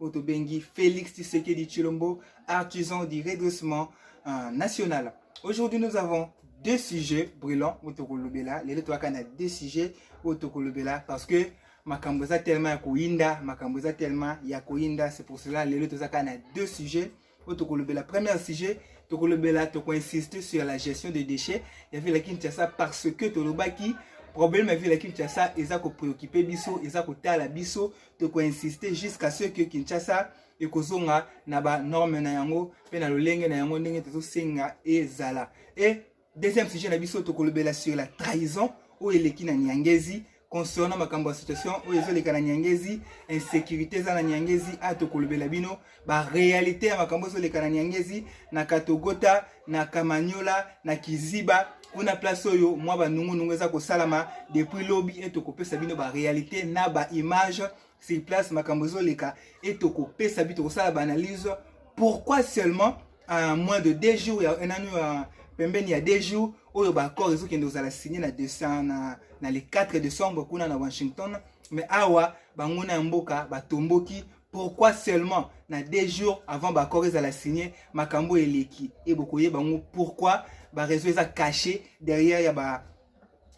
oyo tobengi Félix Tshisekedi Chilombo, artisan du redressement euh, national. Aujourd'hui, nous avons deux sujets brûlants oyo tokolobela lelo toyaka na deux sujets oyo tokolobela parce que makambo eza tellement ya koyinda makambo eza tellement ya koyinda c'est pour cela lelo tozaka na deux sujets oyo tokolobela premier sujet tokolobela tokoinsiste sur la gestion des déchets ya ville ya kinshasa parce que tolobaki problème ya ville ya kinshasa eza kopréoccupe biso eza kotala biso tokoinsiste jusqu'à ce que kinshasa ekozonga na banorme na yango mpe na lolenge na yango ndenge tozosenga ezala e Deuxième sujet na biso tokolobela sur la trahison oyo eleki na Nyangezi concernant makambo ya situation oyo ezoleka na Nyangezi, insécurité eza na Nyangezi, a tokolobela bino ba réalité ya makambo ezoleka na Nyangezi, na Katogota, na Kamanyola, na Kiziba kuna place oyo mwa banungunungu eza kosalama depuis lobi e tokopesa bino ba réalité na ba image sur place makambo ezoleka e tokopesa bino tokosala ba analyse pourquoi seulement à moins de deux jours ya un année ya pembeni ya deux jours oyo baaccord ezokende kozala signe na décembre na, na le 4 décembre kuna na washington mais awa banguna ya mboka batomboki pourquoi seulement na deux jours avant baaccord ezala signe makambo eleki e bokoyeba yango pourquoi bareseau eza caché derrière ya ba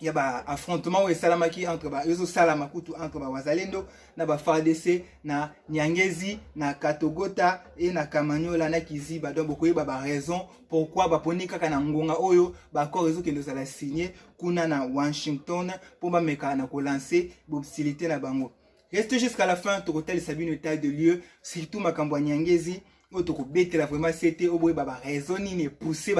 ya ba affrontement oyo esalamaki entre ba ezosalama kutu entre ba wazalendo na ba fardc na nyangezi na katogota e na kamanyola na kiziba donc bokoyeba ba raison pourquoi baponi kaka na ngonga oyo baaccord ezokende ozala signe kuna na washington mpo bameka na kolanse bobsilite na bango reste jusqu'à la fin tokotalisa bino etat de lieu surtout makambo ya nyangezi oyo tokobetela vraiment sete oboyeba baraison nini epousse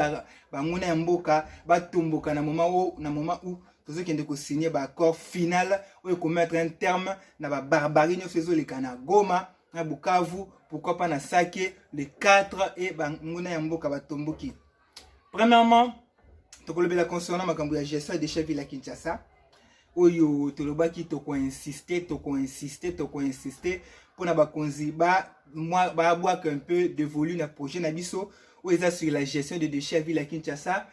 banguna ya mboka batomboka na moment oyo na moment où tozokende kosigne baaccord final oyo ekomettre un terme na babarbarie nyonso ezoleka na goma na bukavu pourquoi pas na sake le 4 e banguna ya mboka batomboki premièrement tokolobela concernant makambo ya gestion ya déchet ville ya kinshasa oyo tolobaki tokoinsiste tokoinsiste tokoinsiste mpo na bakonzi babwaka un peu de volume na projet na biso oyo eza sur la gestion de déchet ya ville ya kinshasa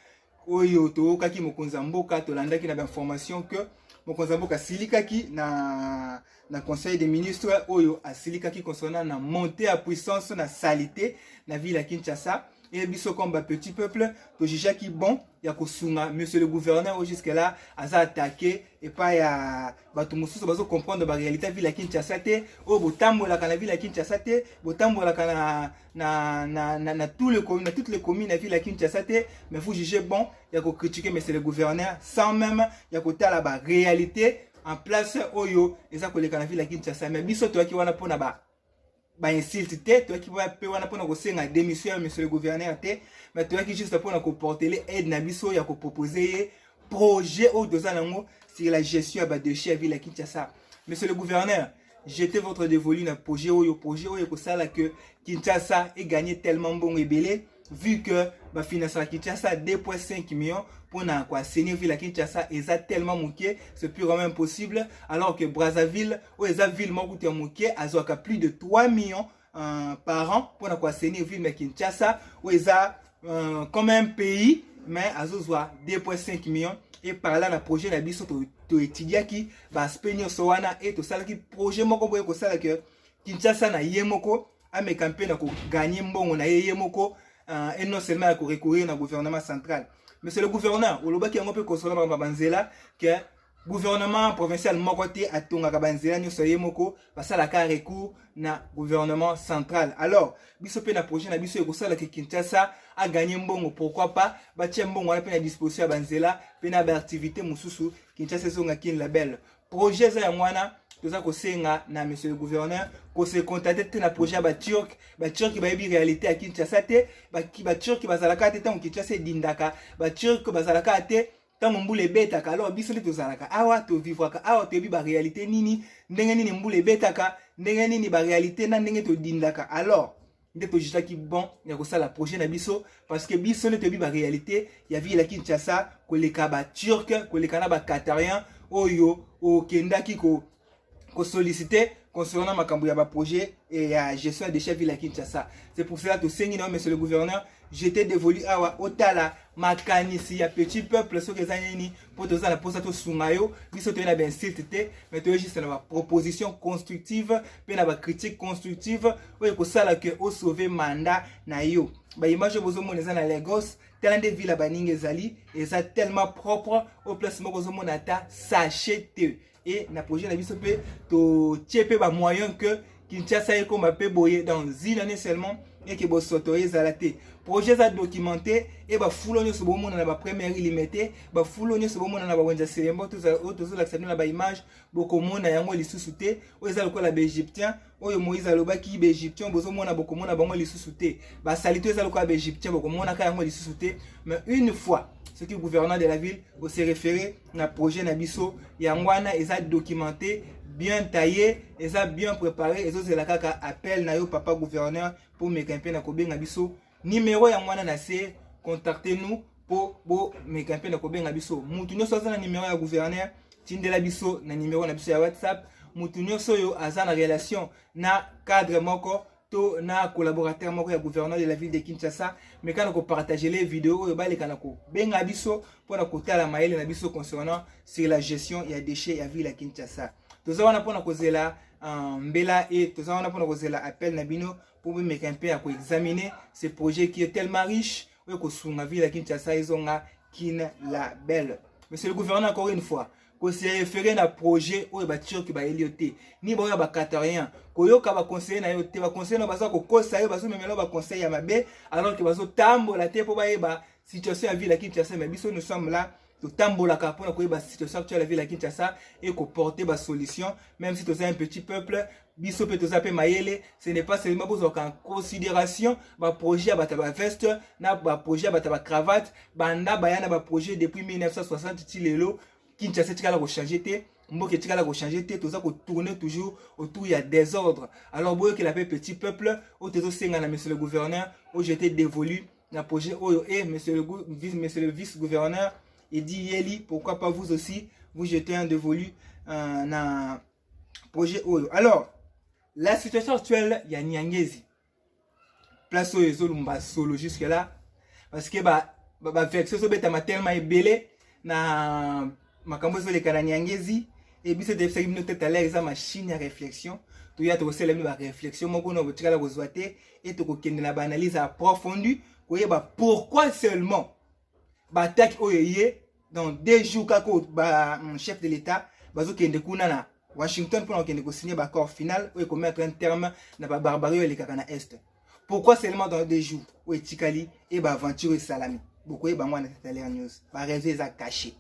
oyo toyokaki mokonzi ya mboka tolandaki na bainformation que mokonzi ya mboka asilikaki na na conseil des ministres oyo asilikaki concernant na montée ya puissance na salite na ville ya kinshasa et biso comme ba petit peuple tojijaki bon ya kosunga monsieur le gouverneur oyo jusque là aza attaqué epai ya bato mosusu bazo comprendre baréalité ya ville ya kinshasa te oyo botambolaka na ville ya kinshasa te botambolaka na, na, na, na, na, tout le, na toutes les communes ya ville ya kinshasa te mais vous jugez bon ya kocritique monsieur le gouverneur sans même ya kotala baréalité en place oyo eza koleka na ville ya Kinshasa mais biso toyaki wana mpona ba ba insulte te toyaki mpe wana mpona kosenga démission ya monsieur le gouverneur te mais toyaki juste mpona koportele aide na biso ya kopropose ye projet oyo toza nango sur la gestion ya badéchet ya ville ya Kinshasa monsieur le gouverneur Jetez votre dévolu na projet oyo projet oyo ekosala que Kinshasa e gagner tellement mbongo ebele vu que ba financera Kinshasa 2.5 millions pour na quoi assainir ville à Kinshasa eza tellement moqué c'est plus vraiment impossible alors que Brazzaville ou eza ville moko te moqué azwaka plus de 3 millions uh, par an mpo na koassainir ville ya kinshasa oyo eza uh, comme un pays mais azozwa 2.5 millions e par là na projet na biso toétudiaki to baaspect nyonso wana e tosalaki projet moko boye kosala ke kinshasa na ye moko ameka mpe na koganye mbongo na ye ye moko uh, et non seulement ya korecourir na gouvernement central monsieur le gouverneur olobaki yango mpe kosola bango banzela ke gouvernement provincial moko te atongaka banzela nyonso ye moko basalaka recours na gouvernement central alors biso mpe na projet na biso ekosala ke kinshasa aganye mbongo pourquoi pas batya mbongo wana mpe na disposition ya banzela mpe na baactivité mosusu kinshasa ezonga kin label projet eza yango wana toza kosenga na monsieur le gouverneur kose contacte te na projet ya baturke baturke bayebi réalité ya kinshasa te baturke bazalaka te ntango kinshasa edindaka baturke bazalaka te ntango mbula ebetaka alors biso nde tozalaka awa tovivwaka awa toyebi barealité nini ndenge nini mbula ebetaka ndenge nini barealité na ndenge todindaka alors nde tojutaki bon ya kosala projet na biso parce que biso nde toyebi barealité ya ville ya kinshasa koleka baturke koleka na bacatarien oyo okendaki ko ko solliciter concernant makambo ya ba projet et ya gestion de chef ville ya Kinshasa. C'est pour cela tosengi na monsieur le gouverneur, je t'ai dévolu awa otala makanisi ya petit peuple soki eza nini mpo toza na mposa tosunga yo biso toye na bainsulte te mais toye juste na baproposition constructive mpe na bacritique constructive oyo ekosala ke osauve mandat na yo baimage oyo bozomona eza na lagos tala nde ville ya baninga ezali eza tellement propre oyo place moko ozomona ata sachet te et na projet na biso mpe totie mpe bamoyen que kinshasa ekoma mpe boye dans une année seulement eke bosoto ezala te projet eza documenté e bafulo nyonso bomona na bapremière limete bafulo nyonso bomona na bawenza selembo oyo tozolakisa bino na baimage bokomona yango lisusu te oyo eza lokola baegyptien oyo moïse alobaki baegyptien bozomona bokomona bango lisusu te basalite eza lokola baegyptien bokomonaka yango lisusu te mais une fois soki gouverneur de la ville ose référé na projet na biso yango wana eza documenté bien taillé eza bien préparé ezozela kaka appel na yo papa gouverneur mpo omeka mpe na kobenga biso Numero ya mwana na se contactez nous po bo meka mpe na kobenga biso mutu nyonso aza na numero ya gouverneur tindela biso na numero na biso ya whatsapp mutu nyonso oyo aza na relation na cadre moko to na collaborateur moko ya gouverneur de la ville de kinshasa meka na kopartagele video oyo baleka na kobenga biso mpo na kotala mayele na biso concernant sur la gestion ya déchet ya ville ya kinshasa toza wana mpo na kozela uh, mbela e toza wana mpo na kozela appel na bino mpo bomeka mpe ya koexamine ce projet qui est tellement riche oyo ekosunga ville ya kinshasa ezonga kin la belle monsieur le gouverneur encore une fois koserefere na projet oyo baturki bayeli yo te ni baoyo ya bacatarien koyoka baconseille na yo te baconseille na baza kokosa yo bazomemela yo baconseille ya mabe alors ke bazotambola te mpo bayeba situation ya ville ya kinshasa me biso nous sommes là totambolaka mpona koyeba situation actuelle ya ville ya kinshasa et koporte basolution même si toza un petit peuple biso mpe toza mpe mayele ce n'est pas seulement bozwaka en considération baprojet ya bato ya baveste na baprojet ya bato ya bacravate banda baya na baprojet depuis 1960 ti lelo kinshasa etikala kochange te mboka etikala kochange te toza kotourne toujours autour ya désordre alors boyokela mpe petit peuple oyo tozosenga na monsieur le gouverneur oyo jete dévolu na projet oyo et eh, monsieur le, vice, monsieur le vice gouverneur il dit yeli pourquoi pas vous aussi vous jetez un dévolu euh, na projet oyo alors la situation actuelle ya niangezi place oyo ezolumba solo jusque là parce que ba bavexe ba ezobetama tellement ebele na makambo ezoleka na niangezi e biso toyebisaki bino tout à l'heure eza machine ya réflexion toya tokosala bino baréflexion moko na botikala kozwa te e tokokende na baanalyse ya profondu koyeba pourquoi seulement baatake oyo eye dans deux jours kaka ba mm, chef de l'état bazokende kuna na washington mpona kokende kosigne baaccord final oyo ekomettre un terme na babarbarie oyo elekaka na est pourquoi seulement dans deux jours oyo etikali e baaventure esalami bokoyeba yango wana tataler news baraison eza cache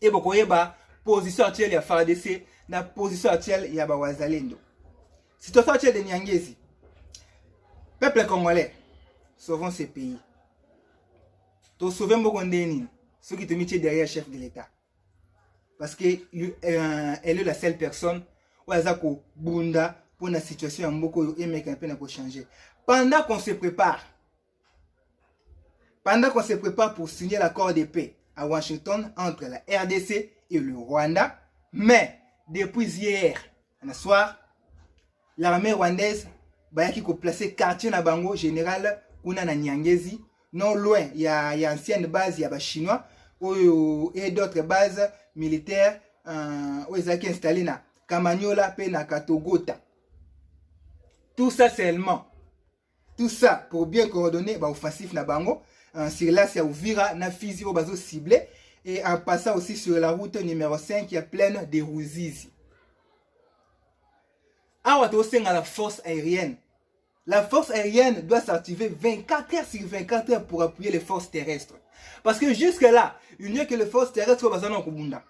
e bokoyeba position actuelle ya fardc na position actuelle ya bawazalendo situation actuelle de niangezi peuple congolais sauvons ce pays tosauve mboko ndenge nini soki tomitie derrière chef de l'état parce que euh, elle est la seule personne oyo aza kobunda mpo na situation ya mboka oyo emeka mpe na kochanger pendant qu'on se prépare pendant qu'on se prépare pour signer l'accord de paix à Washington entre la RDC et le Rwanda mais depuis hier na soir l'armée rwandaise bayaki koplace quartier na bango général kuna na nyangezi non loin ya, ya ancienne base ya bachinois oyo et d'autres bases militaires euh, oyo ezalaki installe na kamanyola mpe na katogota tout ça seulement tout ça pour bien coordonner ba offensif na bango euh, sur l'as ya Uvira na Fizi oyo bazo cible et en passant aussi sur la route numéro 5 ya plaine de Ruzizi awa tosenga la force aérienne la force aérienne doit s'activer 24 heures sur 24 heures pour appuyer les forces terrestres parce que jusque là il n'y a que les forces terrestres oyo baza na kobunda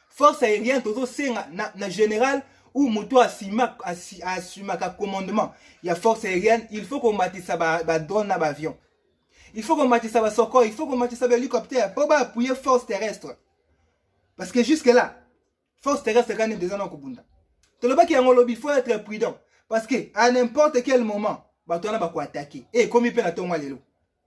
force aérienne tozosenga na, na général ou moto asumaka commandement ya force aérienne il faut komatisa badrone na baavion il faut komatisa basoko il faut komatisa bahélicoptère mpo baappuye force terrestre parce que jusque là force terrestre kani deja na kobunda tolobaki yango lobi faut être prudent parce que à n'importe quel moment bato wana bakoatake e eh, ekomi mpe na ntongo ya lelo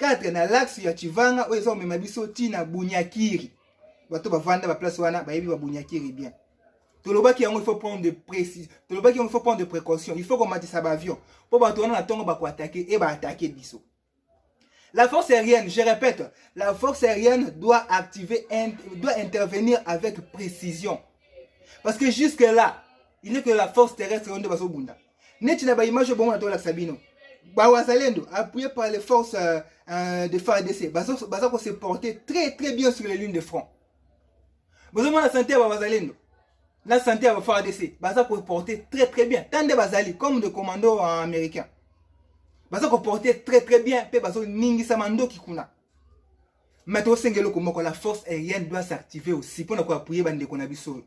4 na laxe ya chivanga oyo eza komema biso ti na bunyakiri bato bavanda baplace wana bayebi babunyakiri bien tolobaki yango il faut prendre de précis tolobaki yango il faut prendre de précaution il faut komatisa baavion mpo bato wana na ntongo bakoatake e baatake biso La force aérienne, je répète, la force aérienne doit activer, doit intervenir avec précision. Parce que jusque-là, il n'est que la force terrestre qui est neti na ba image oyo bongo na tolakisa bino bawazalendo appuyé par les forces euh, euh, de fardc baza ko se porter très très bien sur les lunes de front bozomona sante ya bawazalendo na sante ya bafardc baza ko porter très très bien tant nde bazali comme de commando américain baza ko porter très très bien mpe bazoningisama ndoki kuna mais tosenge eloko moko la force aérienne doit s'activer aussi mpo na koappuye bandeko na biso oyo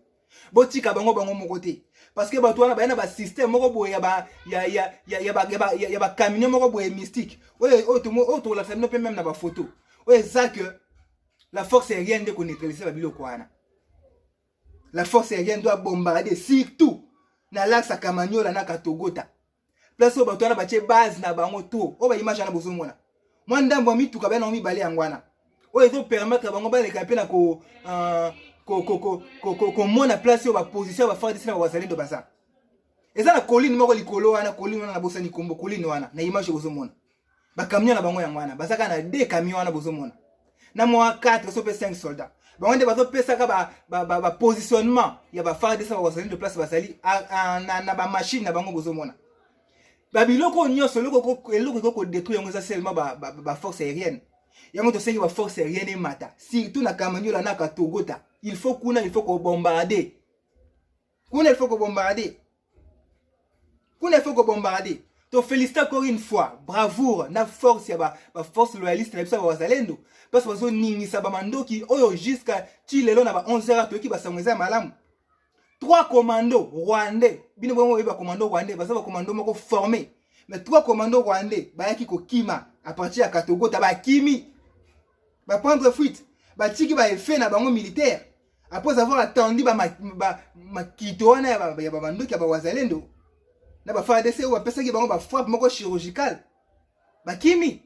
botika bango bango moko te parce que bato wana baye na basystème moko boye ya bacamine moko boye mystique oyo tokolakisa bino mpe meme na bafoto oyo eza que la force aérienne nde koneutralise babiloko wana la force aérienne doit bombarde surtout na lac sakamaniola na katogota place oyo bato wana batie base na bango to oyo baimage wana bozomona mwa ndambo ya mituka bana yango mibale yango wana oyo ezopermettre bango baleka mpe na ko euh, komona place oyo baposition ya bafardc na bawazalendo baza eza na colline moko likolo wana colline wana nabosani kombo colline wana na image bozomona ba camion na bango yango wana baza kaka na deux camion wana bozomona na mwa 4 so mpe 5 soldat bango nde bazopesaka bapositionnement ba, ba, ba ya bafardc bazali de place bazali na, na bamashine na bango bozomona babiloko oyo nyonso eloko ekoki kodetruire yango eza seulement baforce ba, ba aérienne yango tosengi baforce aérienne emata surtout na kamaniola na katogota il faut kuna il faut kobombarde kuna il faut ko bombarder kuna il faut ko bombarder to félicite encore une fois bravoure na force ya ba, ba force loyaliste na biso ya bawazalendo parce bazoningisa bamandoki oyo jusqu'à ti lelo na ba 11 heures toyoki basango eza ya malamu trois commando rwandais bino bongo oyebi bacommando rwandais baza bacommando moko formé mais trois commando rwandais bayaki kokima à partir ya katogota bakimi baprendre fuite batiki baeffet na bango militaire après avoir attendu makito wana ya babandoki ya bawazalendo na bafardc oyo bapesaki bango bafrappe moko chirurgicale bakimi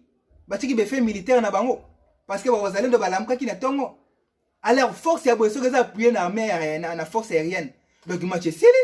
batiki befe militaire na bango parce que bawazalendo balamukaki na ntongo alors force ya boye soki eza appuye na armée na force aérienne donc match esili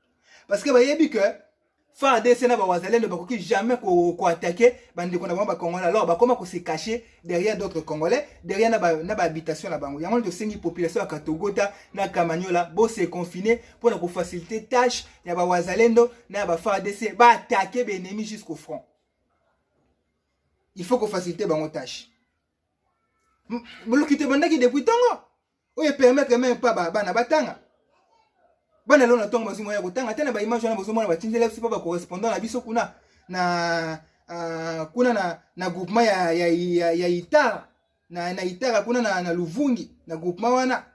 parce que bayebi que FARDC na bawazalendo bakoki jamais koattaquer bandeko na bango bacongolais alors bakoma kose cacher derrière d'autres congolais derrière na bahabitation na bango yango tosengi population ya katogota na kamanyola bose confine mpo na kofacilite tâche ya bawazalendo na ya bafardc baattaquer baennemi jusqu'au front il faut kofacilite bango tâche boluki te bandaki depuis ntongo oyo epermettre meme pas bana batanga bana lelo na ntongo bazwi moya ya kotanga te na baimage wana bozomona batindela biso mpo bacorrespondant na biso kuna na uh, kuna na, na groupement ya, ya, ya, ya itara na, na itara kuna na, na luvungi na groupement wana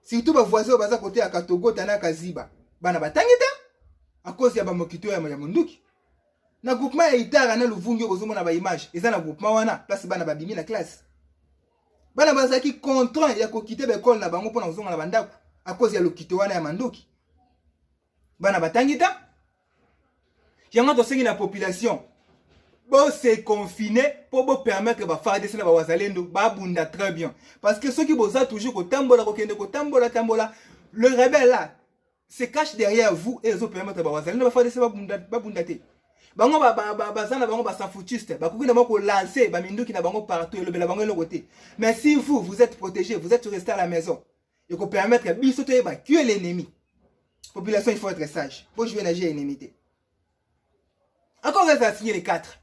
surtout bavoisin oyo baza kote ya katogota na kaziba bana batangi te a cause ya bamokito ya, ya monduki na groupement ya itara na luvungi oyo bozomona baimage eza na groupement wana place bana babimi na classe bana bazalaki contraint ya kokite baekole na bango mpo na kozonga na bandako akozi ya lokito wana ya mandoki bana batangi ta yango tosengi na population bose confine mpo bopermettre bafardc na bawazalendo babunda très bien parce que soki boza toujours kotambola kokende kotambola tambola le rebelle là se cache derrière vous et ezo permettre ba wazalendo ba FARDC babunda babunda te bango ba ba ba bazana bango ba safutiste ba kuki na bango lancer ba minduki na bango partout et elobela bango eloko te mais si vous vous êtes protégé vous êtes resté à la maison et ko permettre biso to yeba qui est l'ennemi population il faut être sage pour jouer na jeu ennemi te encore reste à signer les 4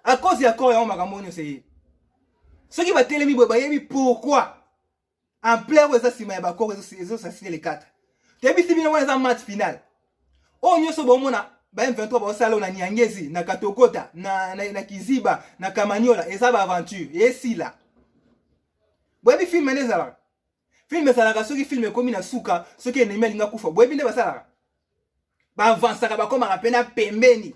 à cause ya corps ya makambo nyo c'est ce qui va télémi boye bayebi pourquoi ampleur oyo eza nsima ya bakoko ezosasile lekata toyebisi bino wana eza match final oyo nyonso bomona ba M23 baosala na Nyangezi na Katokota na, na, na Kiziba na Kamanyola eza ba aventure esila boyebi filme nde ezalaka filme ezalaka soki filme ekomi na suka soki enemi alinga kufa boyebi nde basalaka baavansaka bakomaka mpe na pembeni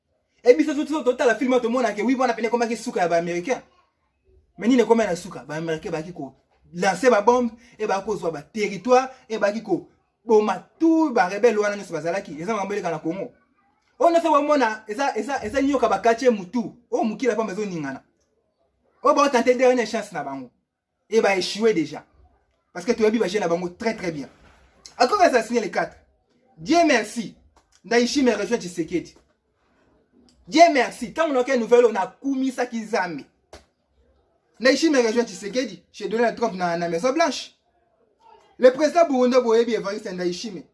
Et biso tout tout total film to mona ke oui bona pene komaki suka ya ba américain. Mais nini ekoma na suka ba américain baki ko lancer ba bombe et ba ko zwa ba territoire et baki ko boma tout ba rebelle wana nyoso bazalaki eza mambo eleka na Congo. On a fait wamona eza eza eza nyoka ba kache mutu. O mukila pa mezo ningana. O ba tenter dernière chance na bango. et ba échouer déjà parce que toyebi ba jeu na bango très très bien akomi assassiner les quatre Dieu merci Ndaishi me rejoint Tshisekedi Dieu merci ntango nayoki nouvelle oyo nakumisaki Nzambe Ndaishi me rejoint Tshisekedi chez Donald Trump na, na Maison Blanche le président burundais boyebi Evariste Ndayishimiye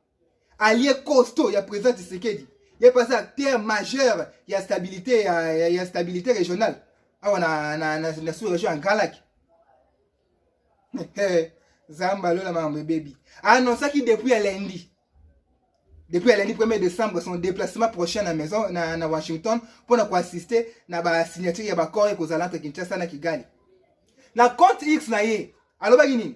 allié costaud ya président Tshisekedi ye pasi acteur majeur ya stabilité ya, ya, ya stabilité régionale awa na, na, na, na sous région ya Grand Lac zamba lola makambo ebebi annoncaki depuis ya lundi depuis ya lundi 1er décembre son déplacement prochain na maison na, na Washington mpo na koassiste na basignature ya baccord ekozala entre Kinshasa na Kigali na compte X na ye alobaki nini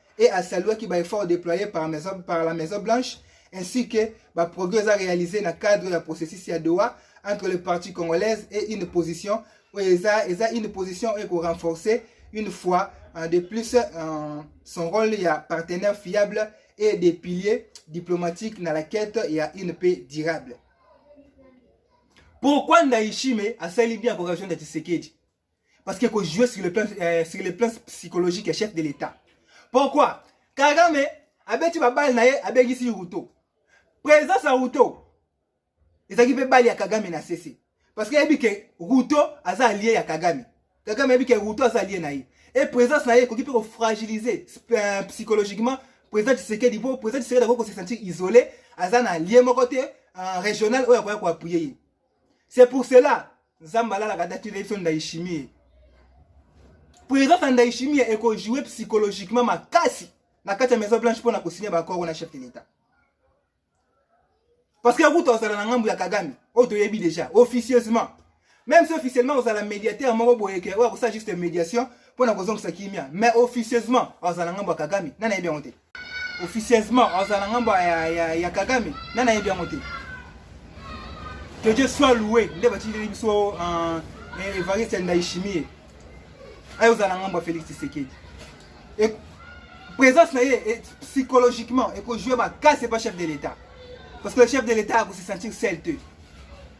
et a saluaki ba efforts déployés par, maison, par la Maison Blanche ainsi que ba progrès à réaliser na cadre ya processus ya Doha entre les parties congolaises et une position oyo eza eza une position oyo ekorenforcer une fois euh, de plus euh, son rôle ya partenaire fiable et des piliers diplomatiques na la quête ya une paix durable pourquoi Ndayishime asali bien koration ya Tshisekedi Parce que ko jouer sur le plan, euh, sur le plan psychologique ya chef de l'État. Pourquoi? Kagame abeti ba balle na ye abegisi Ruto. Présence ya Ruto ezalaki mpe bali ya Kagame na sese. Parce que yebi ke Ruto aza allié ya Kagame. Kagame yebi ke Ruto aza allié na ye. Et présence na ye ekoki mpe ko fragiliser euh, psychologiquement président Tshisekedi mpo président Tshisekedi akoki ko se sentir isolé aza na allié moko te euh, régional oyo akoya ko appuyer ye. c'est pour cela nzambe alalaka dati leyebisa ndayishimiye présence ya ndayishimiye ekojoue psychologiquement makasi na kati ya maison blanche mpo na kosinya bakoro na chef de l'etat parce que akuta ozala na ngambo ya kagame oyo toyebi déjà officieusement même si officiellement ozala médiateur moko boyeke oyo akosala juste médiation mpo na kozongisa kimia mais officieusement ozala na ngambo ya kagame nanayebi yango te officieusement azala na ngambo ya, ya, ya kagame na nayebi yango te que dieu soit loue nde batindeli biso uh, evariste ndaishimie aye ozala na ngambo ya félix tisekedi e, présence na ye e, psychologiquement ekojoue makasi epa chef de l'état parce que le chef de l'état akose sentir sel te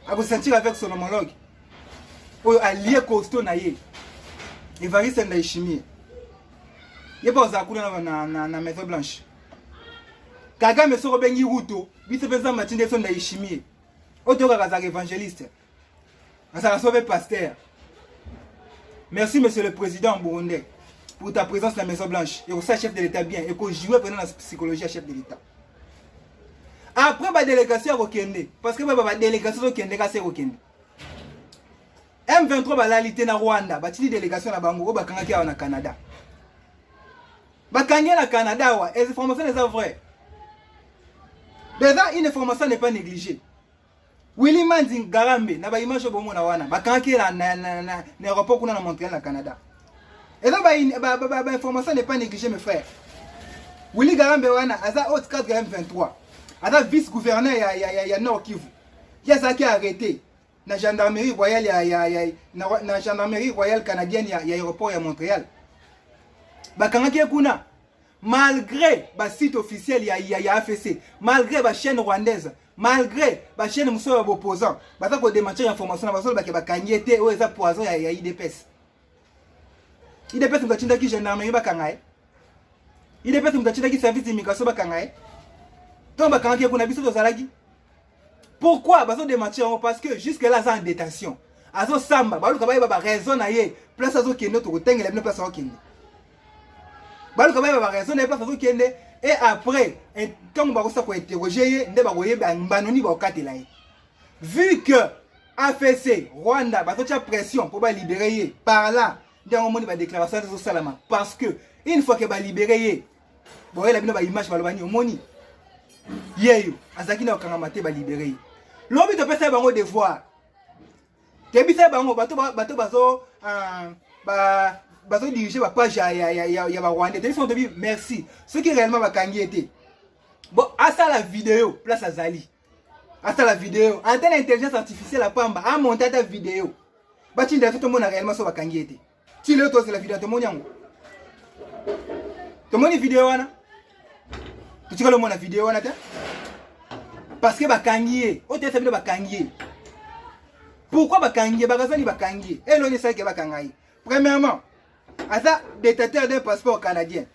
akose sentir avec son homologue oyo alie costo na ye evariste ndaishimie ye mpe ozala kuna na, na, na, na maison blanche kagame soki obengi ruto biso mpe nzambe atindi eso ndayishimie oyo toyokaka azalaka évangéliste azalaka so mpe paster merci monsieur le président burundais pour ta présence na maison blanche ekosala chef de l'état bien ekojoue mpena na psychologie ya chef de l'état après badélégation ya kokende parce que baba badélégation ezokende kasi ekokende M23 balali te na Rwanda, batindi delegation na bango oyo bakangaki awa na Canada. Bakangi na Canada awa, les informations les a vraies. Beza une information n'est pas négligée. Willy Manzing Garambe na ba image oyo bomona wana, bakangaki na na na, na, na aéroport kuna na Montréal na Canada. Et donc ba ba, ba, ba information n'est pas négligée mes frères. Willy Garambe wana aza haute cadre ya M23. Aza vice-gouverneur ya ya ya, ya Nord Kivu. Qui a ça qui a arrêté na gendarmerie royale ya, ya, ya, na, na gendarmerie royale canadienne ya, ya aéroport ya Montréal bakangaki ye kuna malgré basite officiel ya, ya, ya AFC malgré bachaîne rwandaise malgré bachaîne mosusu ya baopposant baza kodemantir information na bazolobake bakangi ye te oyo eza poison ya, ya idps idps moto atindaki gendarmerie bakanga ye idps moto atindaki service d'immigration bakanga ye ntongo bakangaki ye kuna biso tozalaki Pourquoi bazo démentir yango parce que jusque là aza en détention. Azo samba, baluka bayeba ba raison na ye, place azo kende to kotengela bino place azo kende. Baluka bayeba ba raison na ye place azo kende et après ntango bakosa ko interroger ye nde bakoyeba mbano nini bakokatela ye. Vu que AFC Rwanda bazo tia pression pour ba libérer ye par là nde yango moni ba déclaration ezo salama parce que une fois que ba libérer ye boyela bino ba image baloba nini omoni yeyo azalaki na kokangama te balibere ye lobi topesa ye bango devoir toyebisa ye bango bato bato bazo ah, ba bazo dirige ba page ya ya ya ya ba rwandais toyebisa tobi merci soki réellement bakangi ye te bon asala video place azali asala video antenne intelligence artificielle apamba amonte ata video batinda biso tomona réellement so bakangi ye te ti lelo tozela video tomoni yango tomoni video wana totikali omona video wana te parce que bakangi ye oyo toyesa bino bakangi ye pourquoi bakangi ye bakazani bakangi ye eloni esalaki bakanga ye premièrement aza détateur d'un passeport canadien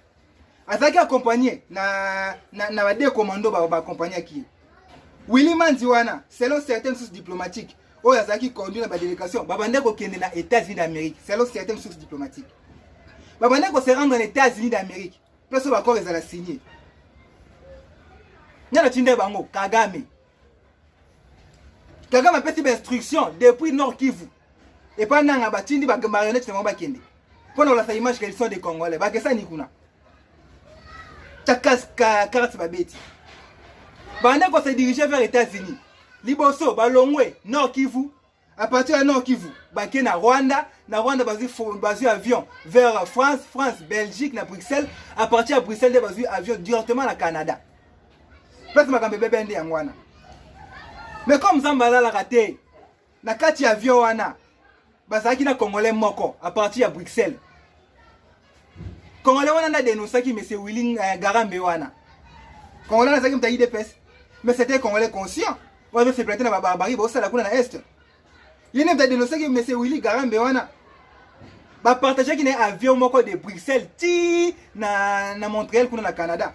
azalaki accompagne na, na, na bade commando baakompagnaki ba ye willi manzi wana selon certaines sources diplomatiques oyo azalaki conduit na badélégation babandaki kokende na états-unis d'amérique selon certaines sources diplomatiques babandaki kose rendre na états-unis d'amérique place oyo bakor ezala signe ngai natindai bango kagame kagame apesi bainstruction depuis nord kivu epai nanga batindi bamarionnette na bango bakende Pona olasa image qu'elles sont des Congolais. Ba kesa ni kuna. Ta kaska carte ba beti. Bande ko se diriger vers États-Unis. Liboso ba longwe Nord Kivu. À partir de Nord Kivu, ba ke na Rwanda, na Rwanda bazui bazui avion vers France, France, Belgique na Bruxelles. À partir de Bruxelles, bazui avion directement na Canada. Pesa makambo ebebe nde yango wana mais comme nzambe alalaka te na kati ya avion wana bazalaki na congolais moko à partir ya bruxelles congolais wana nde adenonsaki monsieur willing euh, garambe wana congolais wana azalaki moto ya idps mais c'était congolais conscient oyo azosepela te na babarbarie baosala kuna na est ye nde moto adenonsaki monsieur willi garambe wana bapartageaki na ye avion moko de bruxelles ti na, na montréal kuna na canada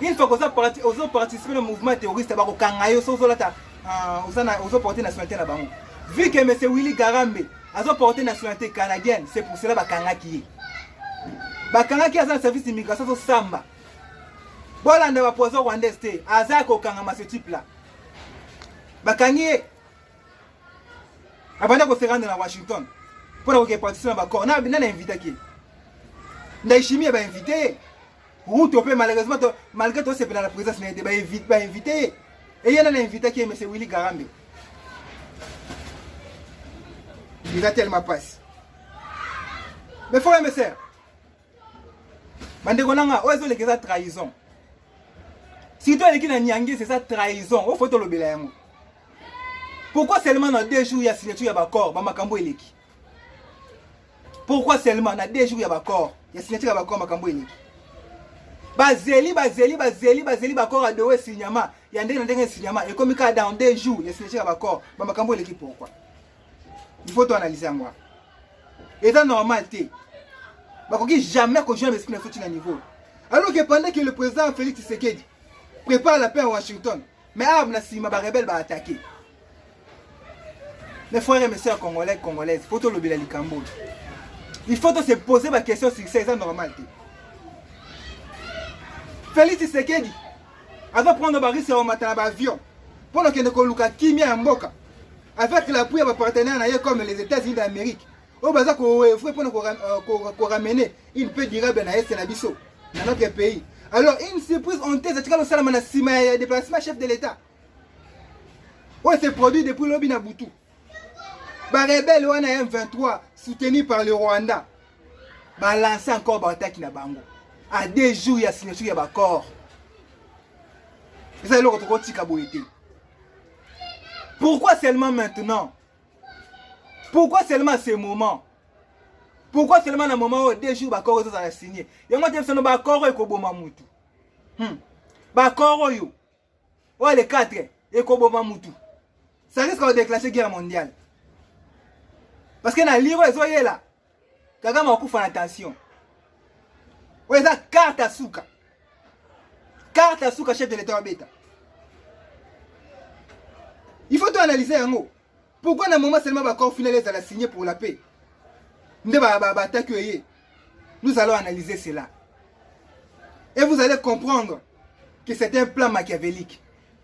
une fois koza parti ozo participer na mouvement terroriste ba ko kanga yo so ozo lata ah, oza na ozo porter nationalité na bango vu que monsieur Willy Garambe azo porter nationalité canadienne c'est pour cela ba kanga ki ba kanga ki aza na service d'immigration so samba bolanda ba poison rwandaise te aza ko kanga ma ce type là ba kangi ye abanda ko se rendre na Washington pour ko ke participer na ba corps na na invitaki ndaishimie ba inviter Ruto pe malheureusement to malgré to sepela la présence na ba invite ba invité et yana na invité qui est monsieur Willy Garambe. Il a tellement passe. Mais frère mes sœurs. Bandeko nanga oyo ezo lekeza trahison. Surtout eleki na Niangi c'est ça trahison. Oyo faut tolobela yango. Pourquoi seulement dans deux jours il y a signature ya ba corps, ba makambo eleki. pourquoi seulement na deux jours ya baccord ya signature ya baccord makambo eleki bazeli bazeli bazeli bazeli baccord ya dowe signama ya ndenge na ndenge ya signama ekomi kaka dans deux jours ya signature ya baccord bamakambo eleki pourquoi il faut toanalyse yango wana eza normal te bakoki jamais kojoindre esprit na foti na niveau alors que pendant que le président félix tshisekedi prépare la paix à washington Mais awa na sima ba rebelle ba attaquer. Mes frères et mes sœurs congolais congolaises, faut to lobela likambo. Il faut to se poser ba question sur ça, c'est normal te. Félix Tshisekedi aza prendre ba risque ya matala ba avion pour le kende ko luka kimia ya mboka avec l'appui ya ba partenaires na ye comme les États-Unis d'Amérique. oyo baza koevre mpona koramene euh, une peu durable na este na biso na notre pays alors une surprise honteuse etikala osalama na nsima ya déplacement chef de l'état oyo se produit depuis lobi na butu barebele wana ya m23 soutenu par le rwanda balance encore baataki na bango a deux jours ya signature ya baccord eza eloko tokotika boye te pourquoi seulement maintenant pourquoi seulement ce moment pourquoi seulement na moment oyo deux jours bakoro ezozala signe yango te bisano bakoro ekoboma mutu hmm. bakoro oyo oyo le 4 ekoboma mutu ça risque kodeclenche guerre mondiale parce que na liro ezoyela Kagame akufa na tension. Oyo eza carte ya suka. Carte ya suka chef de l'État abeta. Il faut to analyser yango. Pourquoi na moment seulement ba corps final ezala signé pour la paix? Nde ba ba attaque ye. Nous allons analyser cela. Et vous allez comprendre que c'est un plan machiavélique.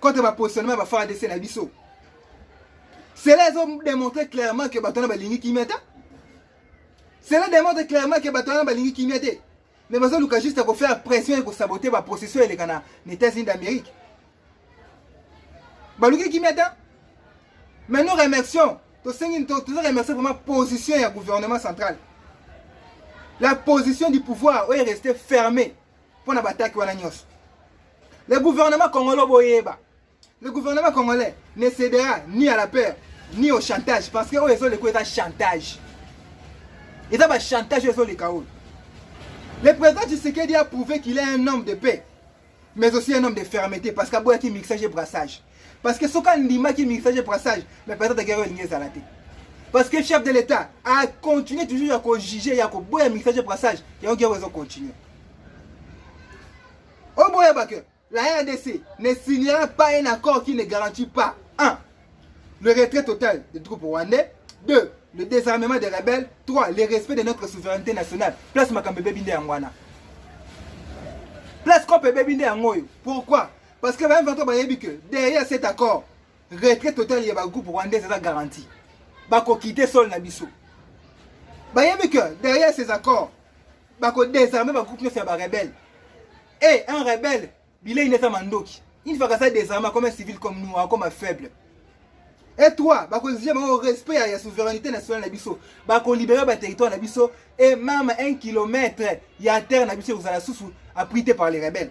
contre ba positionnement ba FARDC na biso cela ezo démontrer clairement que bato wana balingi kimia te cela démontre clairement que bato wana balingi kimia te mais bazoluka juste ya kofaire pression ya kosabote baprocession eleka na états-unis d'amérique baluki kimia te mais nous remercions tosengi toza remercie vraiment position ya gouvernement central la position du pouvoir oyo reste fermée mpo na bataki wana nyonso le gouvernement congolais boyeba le gouvernement congolais ne cédera ni à la peur ni au chantage parce que oyo ezoleka eza chantage eza bachantage oyo ezoleka oyo le président tshisekedi a prouvé qu'il est un homme de paix mais aussi un homme de fermeté parce que aboyaki mixage et brassage parce que soki andimaki mixage et brassage mais peut-être guerre oyo elingi ezala te parce que chef de l'état a continué toujours ya kojuge ya koboya mixage et brassage yango guerre ezo continue oboyeba que la rdc ne signera pas un accord qui ne garantit pas un le retrait total des troupes rwandais deux le désarmement des rebelles trois le respect de notre souveraineté nationale place makambo ebebi nde yango wana place kope ebebi nde yango oyo pourquoi Parce que ba M23 bayebi que derrière cet accord, retrait total ya ba groupe rwandais eza garantie. Bako quitter sol na biso. Bayebi que derrière ces accords, bako désarmer ba groupe nyonso ya ba rebelles. Et un rebelle, bilei neza mandoki. Une fois que ça désarme comme un civil comme nous, comme un faible. Et toi, bako exige bango respect ya, ya souveraineté nationale na biso. Bako libérer ba territoire na biso et même un kilomètre ya terre na biso kozala susu abrité par les rebelles.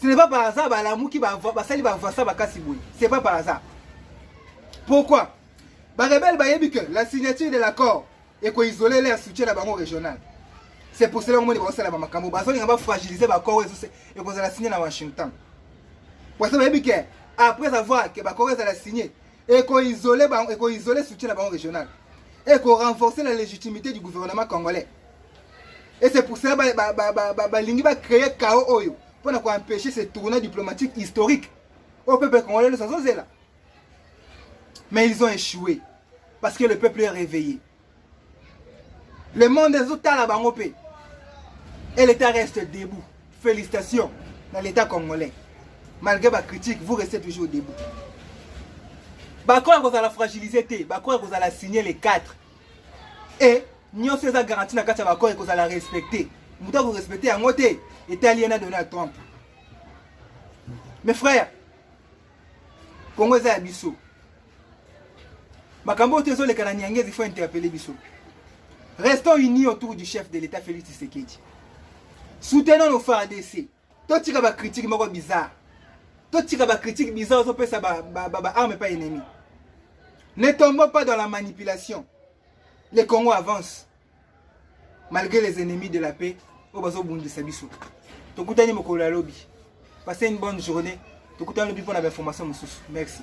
Ce n'est pas par hasard balamuki basali bavasa bakasi boye. C'est pas par hasard. Pourquoi Barebelle bayebi que la signature de l'accord ekoizole leur soutien na bango régional. C'est pour cela omoni bakosala bamakambo bazolinga bafragiliser bakor oyo ekozala signe na Washington. Parce que bayebi que après avoir que bakor ezala signe ekoizole bango ekoizole soutien na bango régional. Ekorenforcer la légitimité du gouvernement congolais. et c'est pour ça balingi ba, ba, ba, ba, ba, ba créer chaos oyo mpo na koempêche ce tournoi diplomatique historique oyo peuple congolais nyonso azozela mais ils ont échoué parce que le peuple est réveillé le monde ezotala bango mpe et l'état reste debout félicitations na l'état congolais malgré bacritique vous restez toujours debout bakoya kozala fragilise te bakoya kozala signe le 4 et Nyoso eza garantie na kati ya bakore ekozala respecte. Moto akorespecte yango te etali ye na Donald Trump. Mes frères, Congo eza ya biso. Makambo oyo ezoleka na Nyangezi faut interpeller biso. Restons unis autour du chef de l'État Félix Tshisekedi. Soutenons nos FARDC. Totika ba critique moko bizarre. Totika ba critique bizarre ozopesa ba ba, ba, ba arme pas ennemi. Ne tombons pas dans la manipulation. Le Congo avance malgré les ennemis de la paix oyo bazobundisa biso. Tokutani mokolo ya lobi. Passez une bonne journée. Tokutani lobi mpo na bainformation mosusu. Merci.